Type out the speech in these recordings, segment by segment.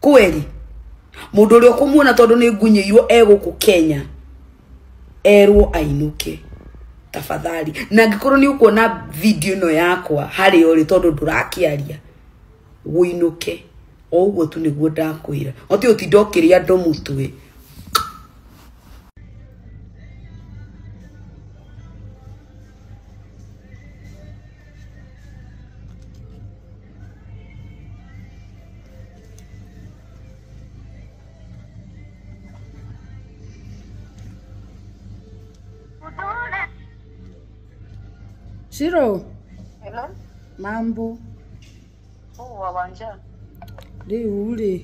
kweli mundu ri ukumuona tondu ni ngunyiirwo e guku kenya erwo ainuke tafadhali na ngikorwo ni ukuona video ino yakwa hari uri tondu ndurakiaria winuke o uguo tu niguo ndakwira oti utinda ukiria andu mutwe Shiro, Hello? mambo Oh, wawanja. rĩu rĩ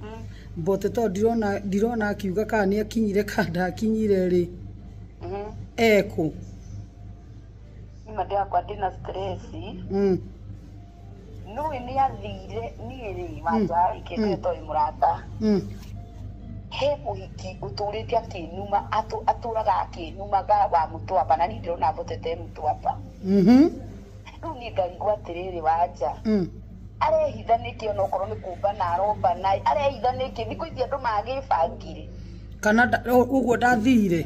Mm. mbote tondũ ndirona ndirona akiuga kana nĩ akinyire kana ndakinyire rĩ Mhm. ekũ nima ndĩrakwa ndĩna stress Mm. nũĩ nĩ athire niĩ rĩ wanja rĩ kĩndũ ĩtoĩ mũrata Mm. he mũhiki ũtũrĩte akĩnuma atũ- atũraga akĩnumaga wa mũtwamba na niĩ ndĩrona mbotete mũtwamba Mhm. rĩu niĩ ngarigwo atĩrĩrĩ wanja Mm. arehitha nĩkĩ ona okorwo nĩ kũmba na aromba na arehitha nĩkĩ thikũ ici andũ magĩbangire kana nda- ũguo ndathire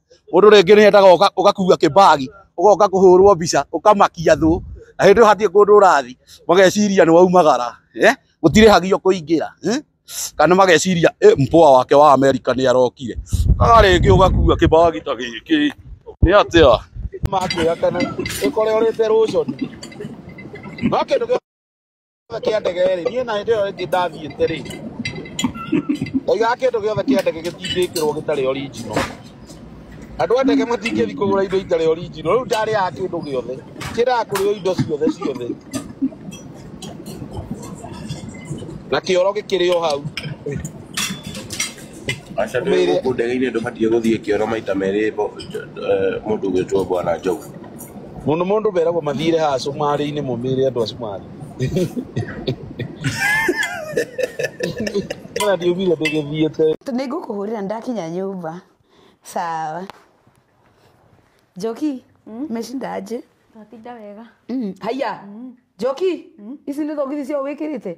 mundu ringi ni endaga ugakua kibagi ugoka kuhurwo mbica ukamakia thu na hindi hatie kundu urathi mageciria ni waumagara eh gutirihagio kuingira eh kana mageciria eh mpoa wake wa Amerika ni arokire aga ringi ugakua kibagi ta giki ni atia makuya kana ikore urite ruconi no kindu kĩa ndege rĩ niĩ na hĩndĩ ĩyo ĩngĩ ndathiĩte rĩ oiga kĩndũ gĩothe kĩa ndege gĩtingĩkĩrwo gĩtarĩ original andũ a ndege matingĩthi kũgũra indo itarĩ original rĩu ndarĩaga kĩndũ gĩothe kĩraga kũrĩo indo ciothe ciothe na kĩoro gĩkĩrĩ o hau aca ndä Mĩrĩ- gå kå ndege-inä ndå batiä gå thiä kä oro maita merä må ndå gwä two bwana njogu Mũno mũndũ meragwo mathire haha cumarĩ-inĩ mũmĩre andũ a cumarĩ. Ona ndiumire ndĩgĩthiĩte. nä ngå kå hå rä ra ndakinya nyå mba sawa njoki mecinda njä Twatinda wega. haiya njoki ici nä thogithi ciao wä kä rä te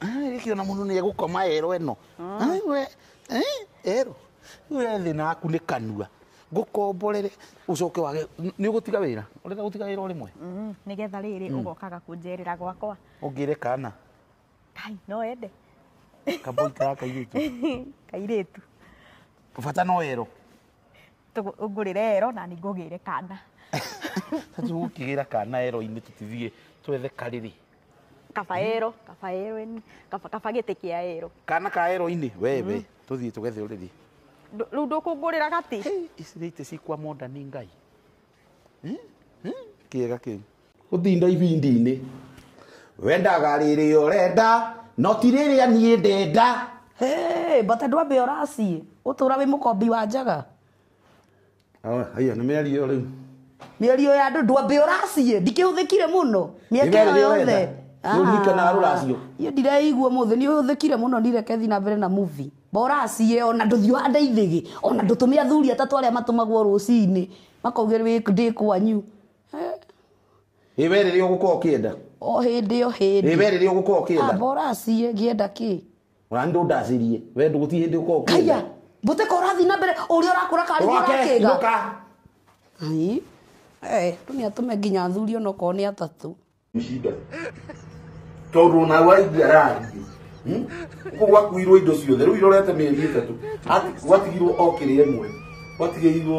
Rĩkĩ ona mũndũ nĩ egũkoma ero ĩno Ai we, eh, ero we thĩna waku nĩ kanua ngũkomborere ũcoke wage nĩ ũgũtiga wĩra ũrenda gũtiga wĩra ũrĩmwe Mm, nĩgetha rĩrĩ ũgokaga kũnjerera gwakwa ũngĩre kana kai no ende kamboi kaya kairĩtu kairĩtu bata no ero Tũgũ- ũngũrĩre ero na ningũgĩre kana tatu gũkĩgĩra kana ero-inĩ tũtithiĩ twethe karĩrĩ kabaero kabaero eni kaba- kabagĩtĩ kĩa erũ kana ka ero-inĩ wewe tũthiĩ tũgethe ũrĩthi Ndũ- rĩu ndũkũngũrĩra gati ici nĩ itĩ cikwa monda nĩ ngai Hmm? Hmm? kĩega kĩu gũtinda ibindi-inĩ wendaga rĩrĩ ũrenda no ti rĩrĩa niĩ ndenda Hey, but ndwambe ũraciĩ ũtũra wĩ mũkombi wa njaga Awe, haya nä mä ario rä u mĩario ya andũ ndwambe ũraciĩ ndikĩhũthĩkire mũno mĩaka Iga ĩyo rĩrĩa yothe wenda. Nĩ ũhika na rũracio. niĩ ndireigua mũthĩ nĩ ũhũthĩkire mũno nireke thiĩ na mbere na muvi boraciĩ ona ndũthiĩ ũhande ithĩgĩ ona ndũtũme athuri atatũ arĩa matũmagwo rũcinĩ makaugĩr wĩ ndĩ kwanyu ä we rä rä a å gå korwo å kä enda o hĩndĩ o ä hĩndĩ we rä rä a å gå korwo å kä enda boraciĩ ngĩenda kĩ Ona nĩ ndũndacĩrie. We ndũgũti hĩndĩ ũkorwo kaiya ũkĩenda. mbũtĩka ũrathiĩ na mbere ũrĩa ũrakũra karĩgĩ Ũroke, ũrakĩga ndũka. Ai, eh, tu nĩ atũme nginya athuri onokorwo nĩ atatũ Shida. Tondũ ona waigua arathiĩ. Hmm? Ũguo gwakuirwo indo ciothe. Rĩu irorete mĩeri ĩtatũ. Ati- Gwatigirwo o kĩrĩa ĩmwe. Gwatigĩirwo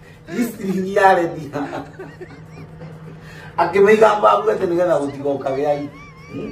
History-inĩ thiha akĩmĩiga mbabu atĩ nĩgetha gũtigoka gĩa hmm?